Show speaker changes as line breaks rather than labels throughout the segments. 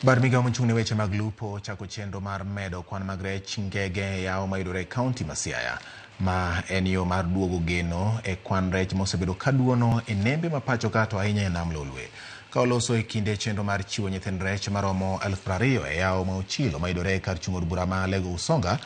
Bad migawo mochung' ne weche mag lupo ochako chenro mar medo kwan mag rech ngege e yawo mayudore e kaunti ma Siaya. Ma en yo mar duogo geno e kwan rech mosebedo ka duono e nembe ma pacho ka to ahinya e nam Lolwe. Ka oloso e kinde chenro mar chiwo nyithind rech maromo elfu piero ariyo e yawo ma Ochilo mayudore e kar chung' od bura ma Lego Usonga,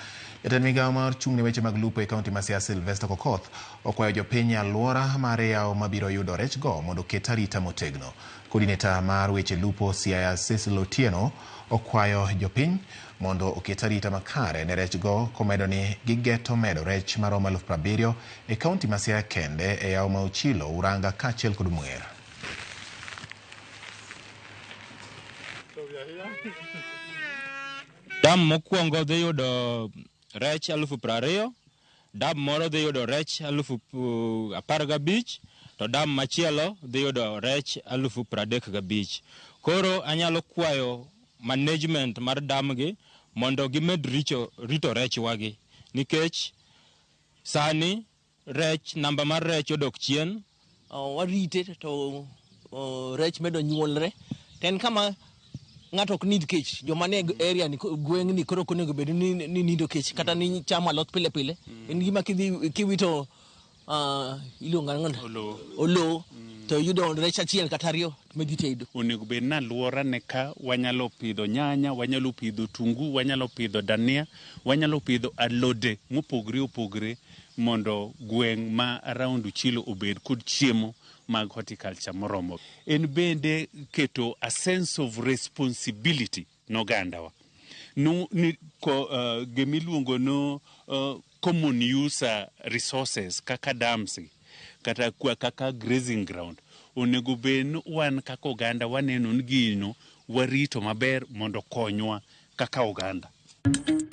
jatend migawo mar chung' ne weche mag lupo e kaunti ma Siaya Sylvester Kokoth Okwayo jopiny e aluora mar yawo mabiro yudo rech go mondo oket arita motegno. Coordinator mar weche lupo Siaya Cecil Otieno okwayo jopiny mondo oket arita makare ne rech go komedo ni gigeto medo rech maromo eluf prabiriyo e kaunti ma Siaya kende e yawo ma Ochilo, Uranga kaachiel kod Mwer.
Dam mokwongo dhi yudo rech alufu piero ariyo dam moro dhi yudo rech alufu uh, apar gabich to dam machielo dhi yudo rech alufu piero adek gabich koro anyalo kwayo management mar damgi mondo gimed richo, rito rechwagi nikech sani Rech, namba mar rech odok chien. Uh, warite
to uh, rech medo nyuolre. To en kama ng'ato ok need kech joma ne area ni gweng' ni koro okonego bedo ni, ni nido kech kata ni chamo alot pile pile mm. en gima kidhi kiwito uh, iluongo ang'o olo mm. to yudo rech achiel kata ariyo medhi tedo onego bed ni alwora
ne ka wanyalo pidho nyanya wanyalo pidho tungu wanyalo pidho dania wanyalo pidho alode mopogre opogre mondo gweng' ma around Uchilo obed kod chiemo mag horticulture moromo. En bende keto a sense of responsibility nogandawa no, ni ko, uh, gimiluongo no uh, common user resources kaka dams kata kwa kaka grazing ground onego bed wan kaka oganda waneno ni gino warito maber mondo konywa kaka oganda.